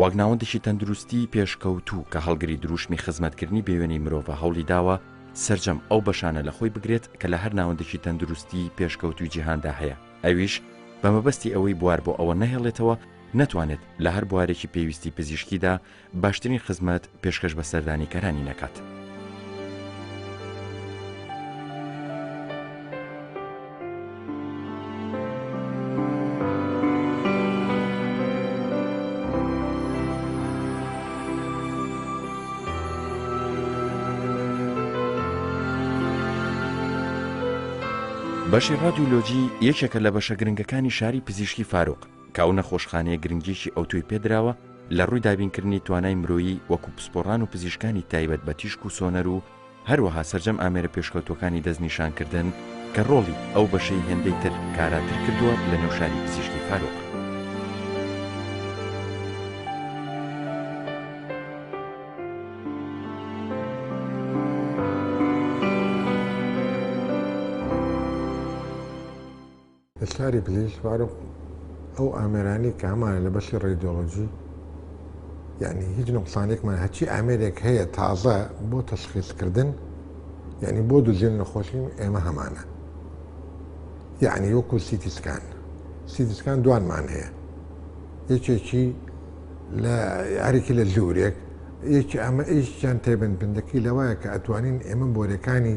وەک ناوەندێکی تەندروستیی پێشکەوتوو کە هەڵگری درووشمی خزمەتکردنی بێوێنەی مرۆڤە هەوڵی داوە سەرجەم ئەو بەشانە لە خۆی بگرێت کە لە هەر ناوەندێکی تەندروستیی پێشکەوتووی جیهاندا هەیە ئەویش بە مەبەستی ئەوەی بوار بۆ ئەوە نەهێڵێتەوە نەتوانێت لە هەر بوارێکی پێویستی پزیشکیدا باشترین خزمەت پێشکەش بە سەردانیکەرانی نەکات. بەشی ڕادیۆلۆجی یەکێکە لە بەشە گرنگەکانی شاری پزیشکی فاروق کە ئەو نەخۆشخانەیە گرنگییەکی ئەوتۆی پێدراوە لە ڕووی دابینکردنی توانای مرۆیی وەکو پسپۆڕان و پزیشکانی تایبەت بە تیشک و سۆنەر و هەروەها سەرجەم ئامێرە پێشکەوتووەکانی دەستنیشانکردن کە ڕۆڵی ئەو بەشەی هێندەی تر کاراتر کردووە لە نێو شاری پزیشکی فاروق. لە شاری پزیشک فاروق ئەو ئامێرانەی کە هەمانە لە بەشی ڕێدیۆلۆجی یعنی هیچ نقصانێکمان هەچی ئامێرێک هەیە تازە بۆ تەشخیصکردن یعنی بۆ دوزێن نەخۆشی ئێمە هەمانە یعنی وەکو سیتیسکان سیتیسکان دوانمان هەیە یەکێکی لە یاریکی لە زورێک یەکی ئەمە ئیشیان تێبندبندەکەی لەوایە کە ئەتوانین ئێمە بۆرەکانی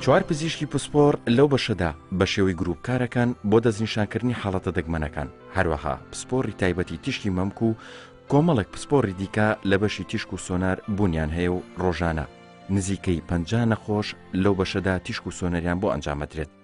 چوار پزیشکی پسپۆڕ لەو بەشەدا بە شێوەی گروپ کارەکان بۆ دەستنیشانکردنی حاڵەتە دەگمەنەکان هەروەها پسپۆڕی تایبەتی تیشکی مەمک و کۆمەڵێک پسپۆڕی دیکە لە بەشی تیشک و سۆنار بوونیان هەیە و ڕۆژانە نزیکەی پ نەخۆش لەو بەشەدا تیشک و سۆنەریان بۆ ئەنجامەدرێت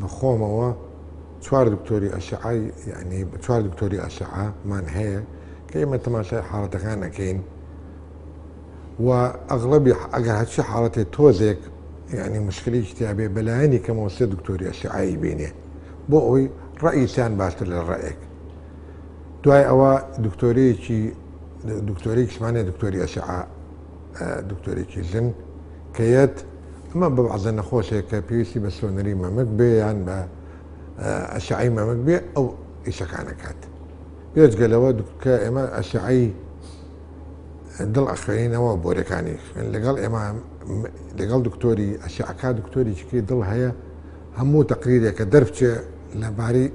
بەخۆمەوە چوار دکتۆری ئەشعەی یەعنی چوار دکتۆری ئەشعە مان هەیە کە ئێمە تەماشای حاڵەتەکان ئەەکەین و ئەغڵبی ئەگەر هەچی حاڵەتێ تۆزێک یعنی مشکلی کتابێ بەلایەنی کەمەوە سێ دکتۆری ئەشعایی بینێ بۆ ئەوی ڕئیسیان باشتر لە ڕێک دوای ئەوە دکتۆرێکی دکتۆرێکیشمانێ دکتۆری ئەشعا دکتۆرێکی ژن کە یەت ئەمە بە بەعزە نەخۆشێک کە پێویستی بە سۆنەری مەمک بێ یان بە ئەشعی مەمک بێ ئەو ئیشەکانەکات پێچگەلەوە کە ئێمە ئەشعی دڵ ئەخوێنینەوە بۆرەکانی لەگەڵ ئێمە لەگەڵ دکتۆری ئەشعکا دکتۆری چکی دڵ هەیە هەموو تەقریرێکە دەربچێ لەبارەی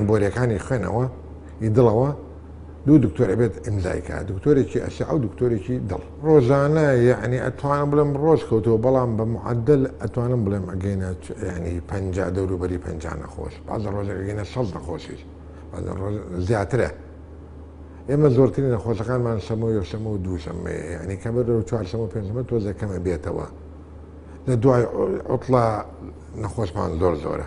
بۆرەکانی خوێنەوە ئی دڵەوە دوو دکتۆر ئەبێت ئیمزای کا دکتۆرێکی ئەشعە و دکتۆرێکی دڵ ڕۆژانە یعنی ئەتوانم بڵێم ڕۆژ کەوتەوە بەڵام بە معدل ئەتوانم بڵێم ئەگەینە ینی پ دەوروبەری پ نەخۆش بازە ڕۆژەکەگەینە شەڵ نەخۆشیش زیاترە ئێمە زۆرترین نەخۆشەکانمان شەمە و یەشەمە و دووشەمە ینی کە بەر و چوارشەمە پێنجمە تۆزەکەمە بێتەوە لە دوای عوتڵە نەخۆشمان زۆر زۆرە.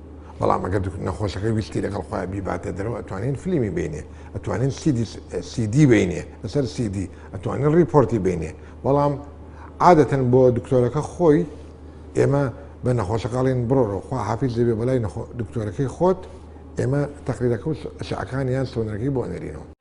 بەڵام ئەگەر نەخۆشەکە ویستی لەگەڵ خۆیان بیباتە دەرەوە ئەتوانین فلیمی بینێ ئەتوانین سیدی بینێ لەسەر سیدی ئەتوانین ڕیپۆرتی بینێ بەڵام عادەتەن بۆ دکتۆرەکە خۆی ئێمە بە نەخۆشەکەڵین بڕۆڕۆ خوا حافیز دەبێ بەلای دکتۆرەکەی خۆت ئێمە تەقلیلەکە و شعەکان یان سۆنەرەکەی بۆ نەرینەوە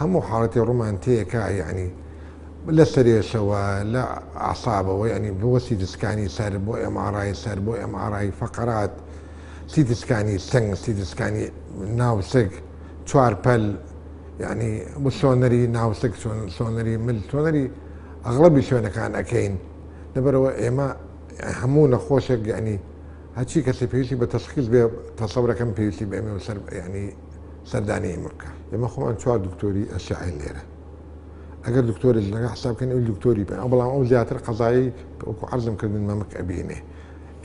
هەموو حاڵەتی ڕوومان تێکا یانی لە سرێشەوە لە ئەعسابەوە یانی بۆ سیتی سکانی سەر بۆ ئێم ئاڕ ئای سەر بۆ ئێم ئاڕ ئای فەقەرات سیتی سکانی سنگ سیتی سکانی ناو سک چوار پەل یانی بۆ سۆنەری ناو سک سۆنەری مل سۆنەری ئەغڵەبی شوێنەکان ئەکەین لەبەرەوە ئێمە هەموو نەخۆشێک یانی هەچی کەسی پێویستی بە تەشخیص بێ تەسەورەکەم پێویستی بە ئێمە سەر یانی سەردانی ئێمە بکە. ئێمە خۆمان چوار دکتۆری ئەشعەین لێرە. ئەگەر دکتۆرێک لەگەڵ حساب بکەین ئەوی دکتۆری بێ، بەڵام ئەو زیاتر قەزایی کە وەکو عەرزم کردن مەمک ئەبینێ.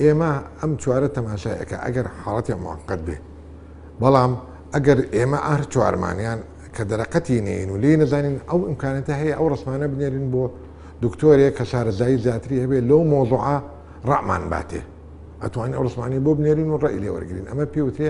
ئێمە ئەم چوارە تەماشای ئەکا ئەگەر حاڵەتیان موەقەت بێ. بەڵام ئەگەر ئێمە هەر چوارمان یان کە دەرەقەتی نێین و لێی نەزانین ئەو ئیمکانەتە هەیە ئەو ڕەسمانە بنێرین بۆ دکتۆرێک کە شارەزایی زیاتری هەبێ لەو مەوزوعە ڕەئمان باتێ. ئەتوانین ئەو ڕەسمانەی بۆ بنێرین و ڕەئی لێ وەرگرین. ئەمە پێی وترێ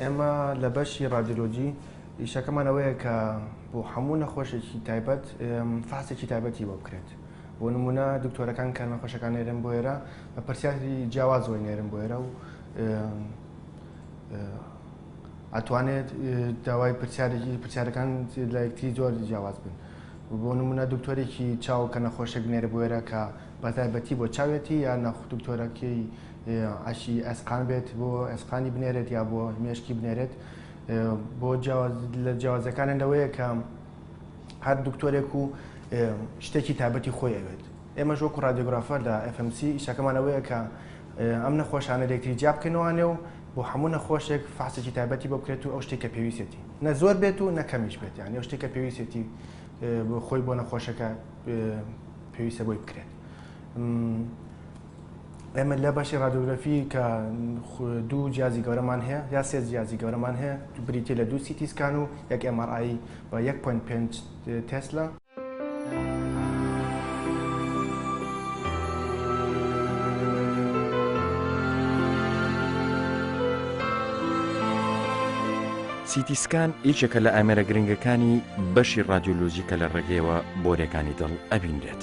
ئێمە لە بەشی ڕادیۆلۆجی ئیشەکەمان ئەوەیە کە بۆ هەموو نەخۆشێکی تایبەت فاسێکی تایبەتی بۆ بکرێت بۆ نمونە دکتۆرەکان کە نەخۆشەکان نێرن بۆ ئێرە بە پرسیاری جیاوازەوەی نێرن بۆ ئێرە و ئەتوانێت داوای پرسیارێکی پرسیارەکان لایەکتری زۆر جیاواز بن بۆ نمونە دکتۆرێکی چاو کە نەخۆشێک نێرە بۆێرە کە بەتایبەتی بۆ چاوێتی یا نەخ دکتۆرە کێی عەشی ئەسقان بێت بۆ ئەسقانی بنێرێت یا بۆ مێشکی بنێرێت بۆ لە جیاوازەکانە لەوەیە کە هەر دکتۆرێک و شتێکی تابەتی خۆی ئەوێت ئێمە ژۆک و رادیۆگرافەر لە FMC ئیشەکەمانەوەیە کە ئەم نەخۆشانە لێکتری جیا بکەنەوانێ و بۆ هەموو نەخۆشێک فاسێکی تابەتی بۆ بکرێت و ئەو شتێکە پێویستێتی نە زۆر بێت و نەکەمیش بێت یان ئەو شتێکە پێویستێتی خۆی بۆ نەخۆشەکە پێویستە بۆی بکرێت ئێمە لە بەشی ڕادۆگرافی کە دوو جیازی گەورەمان هەیە یا سێ جیازی گەورەمان هەیە تو بریتی لە دوو سیتیسکان و یەک ئەمارایی بە 1.5 تسلا سیتی سکان یەکێکە لە ئامێرە گرنگەکانی بەشی ڕادیۆلۆژی کە لە ڕێگەیەوە بۆرێکانی دڵ ئەبینرێت.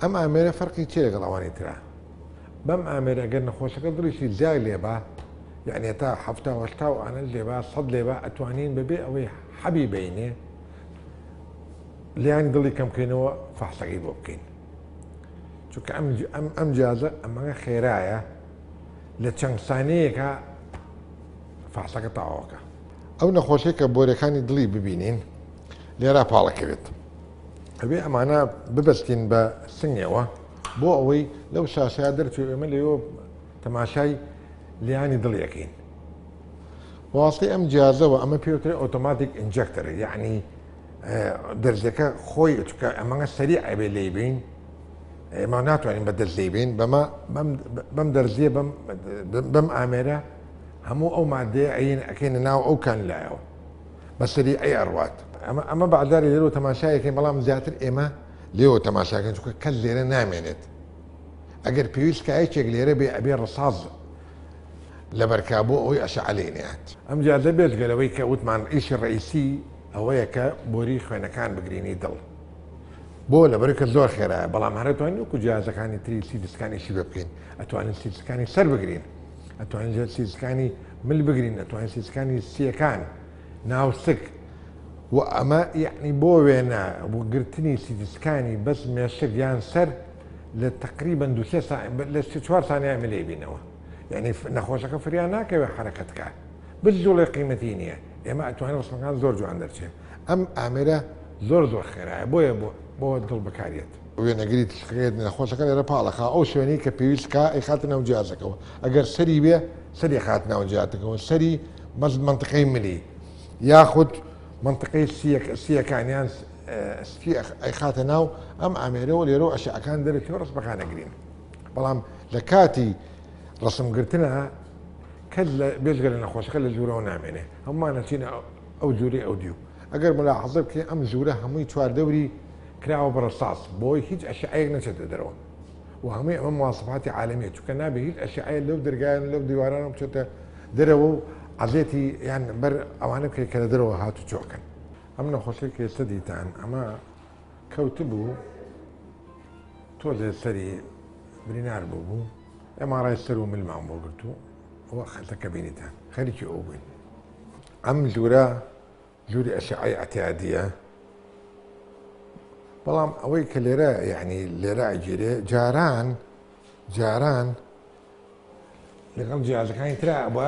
ئەم ئامێرە فەرقی چیە لەگەڵ ئەوانی ترا؟ بەم ئامێرە گەر نەخۆشەکە دڵیشی جیا لێبا یەعنی هەتا حەفتا و هەشتا و ئانەش لێبا سەد لێبا ئەتوانین بەبێ ئەوەی حەبی بینێ لیانی دڵی کەم بکەینەوە فەحسەکەی بۆ بکەین چونکە ئەم ئەم ئەم جیازە ئەمەگە خێرایە لە چەند سانەیەکە فەحسەکە تاواکە ئەو نەخۆشێک کە بۆرەکانی دڵی ببینین لێرا پاڵەکەوێت ئەبێ ئەمانە ببستین بە سنگەوە بۆ ئەوەی لەو شاشەیە دەرچوو ئێمە لەوە تەماشای لیانی دڵیەکەین واستی ئەم جیازەوە ئەمە پێوترێ ئۆتۆماتیک ئینجەکتەر یعنی دەرزەکە خۆی چکە ئەمەگە سەری ئەبێ لی بین ئێمە ناتوانین بە دەست لی بین بەمە بەم دەرزیە بەم ئامێرە هەموو ئەو مادەیە ئەین ئەەکەینە ناو ئەو کان لایەوە بەسەری ئەی ئەڕوات. ئەمە ئەمە بەعداری لێرەوە تەماشایەکەین بەڵام زیاتر ئێمە لێوە تەماشاکەن چونکە کەس لێرە نامێنێت ئەگەر پێویست کایەکێک لێرە بێ ئەبێ ڕساز لەبەرکا بۆ ئەوەی ئەشعەلەی نەیات ئەمجا دە بێجگەلەوەی کە وتمان ئیشی ڕئیسی ئەوەیە کە بۆری خوێنەکان بگرینی دڵ بۆ لەبەر کە زۆر خێرایە بەڵام هەرتوانین وکو جیازەکانی تری سیدسکانیشی بکەین ئەتوانین سیدسکانی سەر بگرین ئەتوانین سیسکانی مل بگرین ئەتوانین سیسکانی سیەکان ناوسک و ئەمە یعنی بۆ وێنە گرتنی سیدسکانی بەس مێشک یان سەر لە تقریبن دو لە چوار سانیا ملێ بینەوە یعنی نەخۆشەکە فریان ناکەوێت حرەکەتکە بزجوڵێ قیمەتی نییە ئێمە ئەتوانین ڕسمەکان زۆر جوان دەرچێن ئەم ئامرە زۆر زۆر خێرایە بۆیە بۆ بۆ دڵ بکارێت. وێنەگری تیشکەکەیەتی ناخۆشەکە لێرە پاڵەخا ئەو شوێنەی کە پێویست کا ئەیخاتە ناو جیازەکەەوە ئەگەر سەری بێ سەری خات ناو جیاتەکەەوە سەری مەز منطقەی ملی یاخود منطقەی سیەکانیان سپی ئەیخاتە ناو ئەم ئامێرەوە لێرەوە ئەشعەکان دەرەکی و ڕسمەکان نەگرین بەڵام لە کاتی ڕسمگرتنە کەس لە بێژگە لە نەخۆشەکە لە جوورەوە نامێنێ هەمووانەچینە ئەو جورەی ئەودیو ئەگەر مولاحەزە بکەی ئەم ژورە هەمووی چوار دەوری کراوە بە رەساس بەوەی هیچ ئەشیعەیەک نەچێتە دەرەوە وە هەمووی ئەمە مواسەفاتی عالەمیە چونکە نابێ هیچ ئەشیعەیە لەو دەرگایان و لەو دیوارانەوە بچێتە دەرەوە و عەزێتی یان بەر ئەوانە بکەی کە لە دەرەوە هات و چۆکەن. ئەم نەخۆشەی کە ئێستا دیتان ئەمە کەوتبوو تۆزێ سەری برینار بووبوو ئێمارای سەر و ملمان بۆ گرتوو وە خەتەکە بینیتان خەریکی ئەو بووین. ئەم جورە جوری ئەشعەی عتیادیە بەڵام ئەوەی کە لێرە یعنی لێرە ئەگیرێ جاران جاران لەگەڵ جیازەکانی تررا بە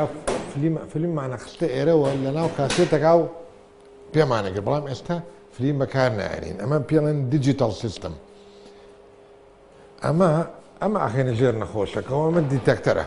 فلیممانە خستە ئێرەوە لە ناو کاسێتەکە و پێمانەگە بەڵام ئێستا فلیم بەکار نایێنین ئەمە پێڵێن دیجیتال سیستم ئەمە ئەمە ئاخێنە ژێر نەخۆشەکەەوە ئەمە دیتەکتەرە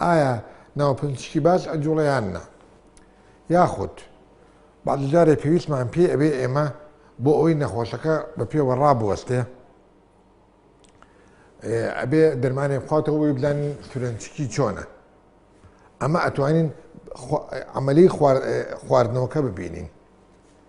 ئایا ناوپنچکی باج ئەجوڵێ یان نا؟ یاخود بەعدی جارێ پێویستمان پێی ئەبێ ئێمە بۆ ئەوەی نەخۆشەکە بە پێوە ڕابوەستێ ئەبێ دەرمانێ بخواتەوە بۆی بدان سورەنچکی چۆنە ئەمە ئەتوانین عملی خواردنەوەکە ببینین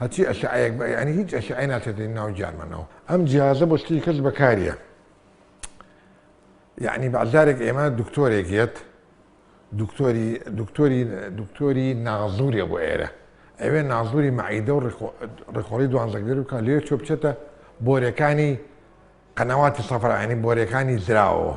هەرچی ئەشعەیەک بئ یانی هیچ ئەشعەی ناچێتە ناو گیانمانەوە ئەم جیهازە بۆ شتێکی کەس بەکاریە یعنی بەجارێک ئێمە دکتۆرێک یەت دکتۆری دکتۆری دکتۆری نازوریە بۆ ئێرە ئەوێ نازوری معیدە و ڕێخۆڵی دوانزەگەر بکە لێ چۆ بچێتە بۆرەکانی قەنەواتی سەفرانی بۆرەکانی زراوەوە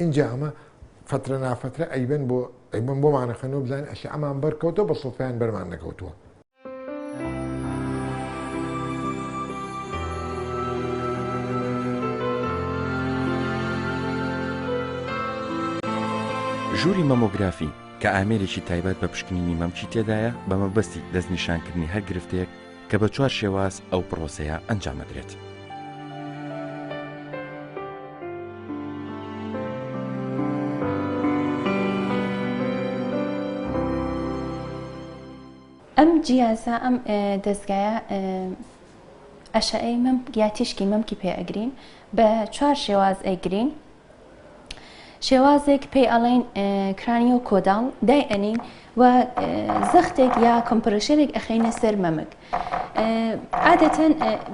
ئینجا ئەمە فەترە نافەترە ئەیبەن بۆ ئەیبەن بۆمان ئەخەنەوە بزانین ئەشی ئەمان بەرکەوتەوە بە سڵفیان بەرمان نەکەوتووە ژووری مەمۆگرافی کە ئامێرێکی تایبەت بە پشکنینی مەمکی تێدایە بە مەبەستی دەستنیشانکردنی هەر گرفتەیەک کە بە چوار شێواز ئەو پڕۆسەیە ئەنجام ئەدرێت. ئەم جیازە ئەم دەزگایە ئەشعەی مەمک یا تیشکی مەمکی پێ ئەگرین بە چوار شێواز ئەیگرین شێوازێک پێی ئەڵێن کرانیۆ کۆداڵ دای ئەنین و زەختێک یا کۆمپرشەرێک ئەخینە سەر مەمک عادەتەن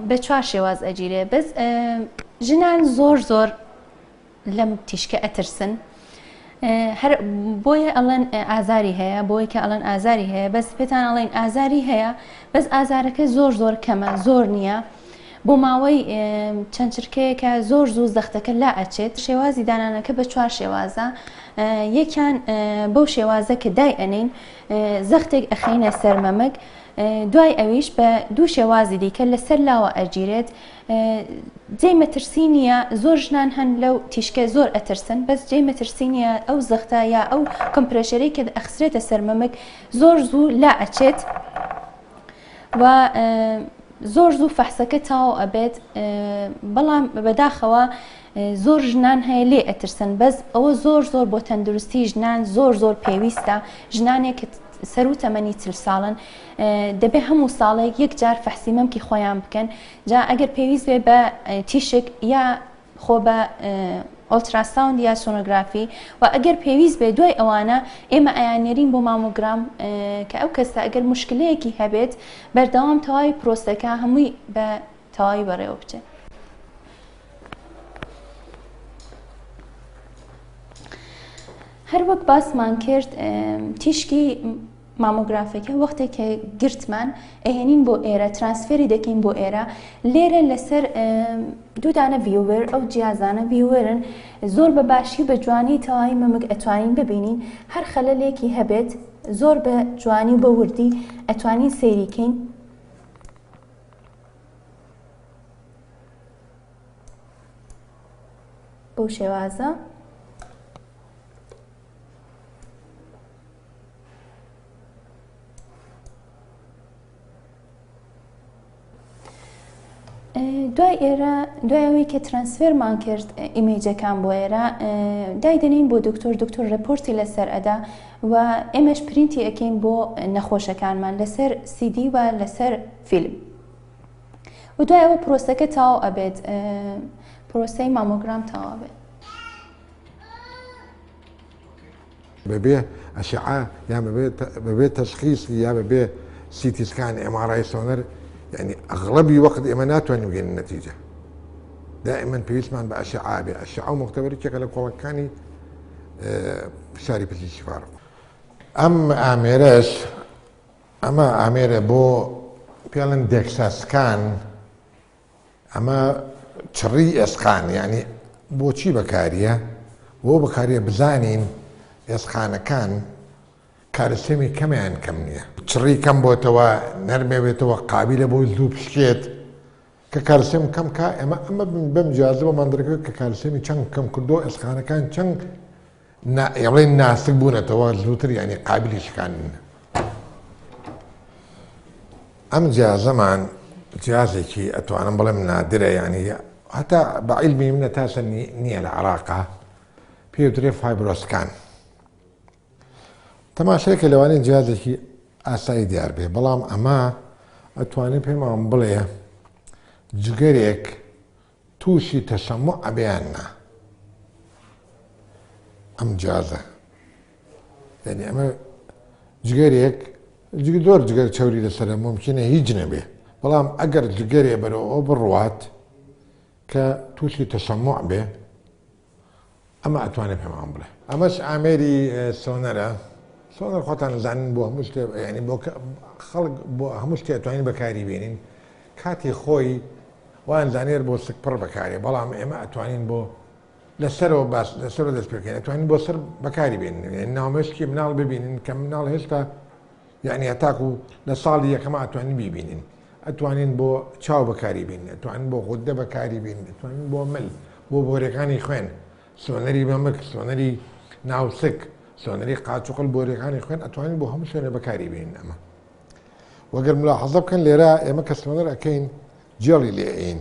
بە چوار شێواز ئەگیرێ بەس ژنان زۆر زۆر لەم تیشکە ئەترسن هەر بۆیە ئەڵەن ئازاری هەیە بۆی کە ئەڵەن ئازاری هەیە بەس پێتان ئەڵێن ئازاری هەیە بەس ئازارەکە زۆر زۆر کەمە زۆر نییە بۆ ماوەی چەند چرکەیەکە زۆر زوو زەختەکە لا ئەچێت شێوازی دانانەکە بە چوار شێوازە یەکیان بەو شێوازە کە دای ئەنین زەختێک ئەخینە سەرمەمەک دوای ئەویش بە دوو شێوازی دیکە لەسەر لاوە ئەگیرێت جێ مەترسی نییە زۆر ژنان هەن لەو تیشکە زۆر ئەترسن بەس جێ مەترسی نییە ئەو زەختە یا ئەو کەمپرێشەرەی کە ئەخسرێتە سەرمەمەک زۆر زوو لا ئەچێت. و زۆر زوو فەحسەکە تاو ئەبێت بەڵام بەداخەوە زۆر ژنان هەیە لێ ئەترسن بەس ئەوە زۆر زۆر بۆ تەندروستی ژنان زۆر زۆر پێویستە ژنانێک سەر و تەمەنی چل ساڵن دەبێ هەموو ساڵێک یەک جار فەحسی مەمکی خۆیان بکەن جا ئەگەر پێویست بێ بە تیشک یا خۆ بە ئۆلتراساوند یا سۆنۆگرافی و ئەگەر پێویست بێ دوای ئەوانە ئێمە ئەیانێرین بۆ مامۆگرام کە ئەو کەسە ئەگەر مشکلەیەکی هەبێت بەردەوام تەواوی پرۆسەکە هەمووی بە تەواوی بەڕێوە بچێت. هەروەک باسمان کرد تیشکی مامۆگرافەکە وەختێ کە گرتمان ئەهێنین بۆ ئێرە ترانسفێری دەکەین بۆ ئێرە لێرە لەسەر دوودانە ڤیوەر ئەو جیازانە ڤیوەرن زۆر بە باشی بە جوانی تەواوی مەمک ئەتوانین ببینین هەر خەلەلێکی هەبێت زۆر بە جوانی و بە وردی ئەتوانین سەیریکەین بەو شێوازە دوای ئێرە دوای ئەوەی کە ترانسفێرمان کرد ئیمەیجەکان بۆ ئێرە دایدەنین بۆ دکتۆر دکتۆر رپۆرتی لەسەر ئەدا و ئێمەش پرینتی ئەەکەین بۆ نەخۆشەکانمان لەسەر سیدی و لەسەر فیلم و دوای ئەوە پرۆسەکە تاو ئەبێت پرۆسەی مامۆگرام تاوا بێت بەبێ ئەشعە یان بەبێ بەبێ تەشخیس یا بەبێ سیتی سکان ئێم ئاڕ ئای سۆنەر یعنی ئەغڵەبی وەخت ئێمە ناتوانین بگەینە نەتیجە دائما پێویستمان بە ئەشعا بێ ئەشعا و مختبەرێکێکە لە کۆڵەکانی فشاری پزی شفاڕ ئەم ئامێرەش ئەمە ئامێرە بۆ پێڵن دێکساسکان ئەمە چڕی ئێسقان یانی بۆچی بەکاریە؟ بۆ بەکاریە بزانین ئێسقانەکان کالسێمی کەمە یان کەم نییە. چڕی کەم بۆتەوە نەرمێ بێتەوە قابیلە بۆ زوو بشکێت کە کالسێم کەم کا ئێمە ئەمە بەم جیازە بۆ مندڕەکە کە کالسێمی چەند کەم کردو ئێسقانەکان چەند نائڵێن ناسک بوونەتەوە زووتر یانی قابلی شکاندن ئەم جیازەمان جیازێکی ئەتوانم بڵێم نادرە یانی هەتا بە عیلمی منە تاسە نییە لە عراقا پێوترێ فایبرۆسکان تەماشەکە لەوانەیە جیازێکی ئاسایی دیار بێ بەڵام ئەمە ئەتوانێت پێمان بڵێ جگەرێک توشی تەسەموع ئەبێ یان نا ئەم جازە یعنی ئەمە جگەرێک زۆر جگەر چوری لەسەر ممکنە هیچ نەبێ بەڵام ئەگەر جگەرێ بەرەوە بڕوات کە تووشی تەسەموع بێ ئەمە ئەتوانێ پێمان بڵێ. ئەمەش ئامێری سۆنەرە. سۆنەر خۆتان ئەزانن بۆ هەموو شتێ یانی بۆ خەڵک بۆ هەموو شتێ ئەتوانین بەکاری بێنین. کاتی خۆی وایان زانێر بۆ سک پڕ بەکارێ بەڵام ئێمە ئەتوانین بۆ لەسەرەوە باس لەسەرەوە دەست پێکەین ئەتوانین بۆ سەر بەکاری بێنین یانی ناومێشکی مناڵ ببینن کە مناڵ هێشتا یەعنی هەتاکو لە ساڵی یەکەم ئاتوانین بیبینین ئەتوانین بۆ چاو بەکاری بین ئەتوانین بۆ غوددە بەکاری بین ئەتوانین بۆ مل بۆ بۆرەکانی خوێن سۆنەری مەمک سۆنەری ناوسک سۆنەری قاچوقل بۆرەکانی خوێن ئەتوانین بۆ هەموو شوێنە بەکاری بین ئەمە وەگەر ملاحەزە بکەن لێرە ئێمە کە سۆنەر ئەەکەین جێڵی لێین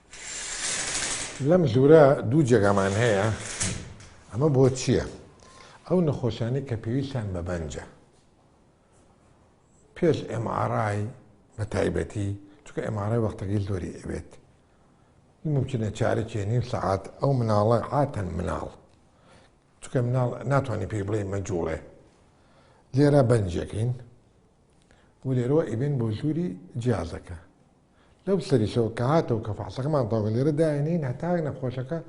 لەم ژوورە دوو جێگامان هەیە، ئەمە بۆ چییە؟ ئەو نەخۆشانەی کە پێویستیان بە بەنجە، پێش MRI بە تایبەتی، چونکە MRI وەختەکەی زۆری ئەوێت، مومکینە چارەکی نیو سەعات، ئەو مناڵە عاتەن مناڵ، چونکە مناڵ ناتوانانی پێی بڵێی مەجووڵێ، لێرە بەنجەکەین و لێرەوە ئەیبەین بۆ ژووری جیازەکە. لەو سەریشەوە کە هاتەوە کە فەحسەکەمان تەواوکە لێرە داینێین هەتا نەخۆشەکە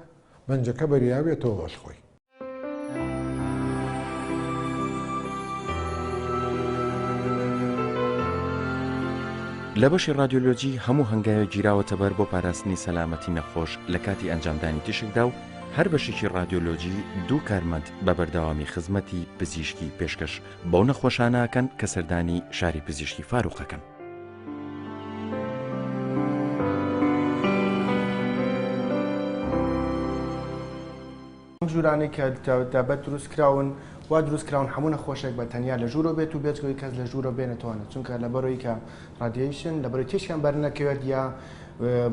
بەنجەکە بەریاوێتەوە بەش خۆی. لە بەشی رادیۆلۆجی هەموو هەنگاوێک گیراوەتە بەر بۆ پاراستنی سەلامەتی نەخۆش لە کاتی ئەنجامدانی تیشکدا و هەر بەشێکی رادیۆلۆجی دوو کارمەند بە بەردەوامی خزمەتی پزیشکی پێشکەش بەو نەخۆشانەکەن کە سەردانی شاری پزیشکی فاروقەکەن. ئەم ژوورانەی کە دابەت دروست کراون وا دروست کراون هەموو نەخۆشێک بە تەنیا لە ژوورۆ بێت و بێتگەوەی کەس لە ژوورۆ بێنێتوانە چونکە لە بەرۆی کە ڕادیشن لە بەرەی تێشیان بەرنەکەوێت یا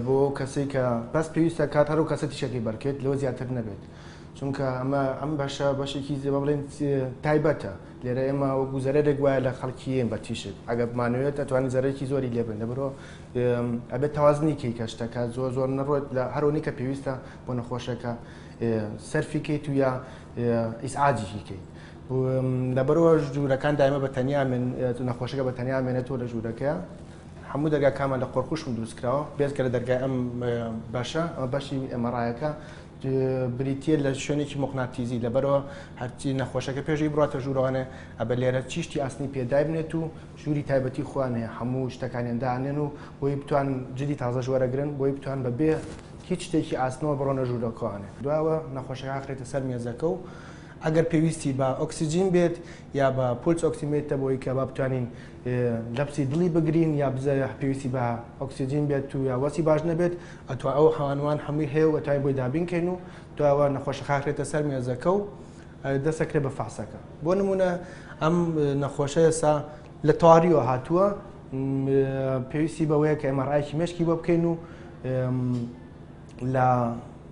بۆ کەسی کە بەس پێویستە کات هەرو کەسە تیشەکەی بەرکێت لەوە زیاتر نەبێت چونکە ئەمە ئەم بەشە بەشێکی زێبە بڵێن تایبەتە لێرە ئێمە وەکو زەرەرێک وایە لە خەڵکیین بە تیشک ئەگە بمانوێت ئەتوانین زەرەکی زۆری لێبن لەبرۆ ئەبێت تەوازنی کەی کە شتەکە زۆر زۆر نەڕۆێت لە هەرۆنی کە پێویستە بۆ نەخۆشەکە سەرفی کەیت و یا ئیسعاجیکی کەیت. لەبەرەوە ژوورەکان دایمە بە تەنیا من نەخۆشەکە بە تەنیا مێنێتەوە لە ژوورەکە هەموو دەرگاکانمان لە قۆرخوشم دروستکراوە بێزگە لە دەرگای ئەم بەشە ئەمە بەشی ئەمەڕایەکە بریتیە لە شوێنێکی موقناتیزی لەبەرەوە هەرچی نەخۆشەکە پێشی بڕاتە ژوورەوانێ ئەبە لێرە چیشتی ئاسنی پێدابنێت و ژووری تایبەتی خوانەیە هەموو شتەکانیان دانێن و بۆی بتوان جدی تازەش وەرەگرن بۆی بتوان بە بێ هیچ شتێکی ئاسنەوە بڕۆنە ژوورەکەوانێ دواوە نەخۆشەکە ئەخرێتە سەر مێزەکە و ئەگەر پێویستی بە ئۆکسسیجین بێت یا بە پولس ئۆکسیمێتە بۆی کە با بتوانین دەپسی دڵی بگرین یا بزە پێویستی بە ئۆکسسیجین بێت و یا وەسی باش نەبێت ئەتو ئەو حوانوان هەمووی هەیە و ئەتوانین بۆی دابین کەین و دواوە نەخۆشە خاخرێتە سەر مێزەکە و دەسەکرێ بە فاسەکە بۆ نمونە ئەم نەخۆشە ئێسا لە تەواریەوە هاتووە پێویستی بەوەیە کە ئەمەڕایکی مشکی بۆ بکەین و لە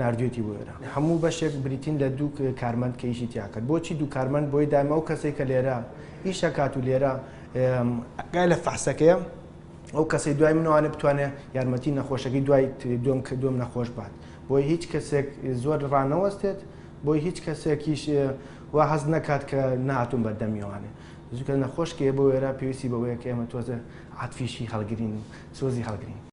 ناردویەتی بۆ ئێرە هەموو بەشێک بریتین لە دوو کارمەند کە ئیشی تیا کرد بۆچی دوو کارمەند بۆی دایم ئەو کەسێک کە لێرە ئیشەکات و لێرە گای لە فەحسەکەیە ئەو کەسی دوای منوانە بتوانێت یارمەتی نەخۆشەکەی دوای دوم کە دوم نەخۆش بات بۆی هیچ کەسێک زۆر ڕانەوەستێت بۆی هیچ کەسێکیش و حەز نەکات کە ناتون بەردەمیوانێ زوکە نەخۆشکێ بۆ وێرا پێویستی بەوەیە کە ئێمە تۆزە عاتفیشی هەڵگرین و سۆزی هەڵگرین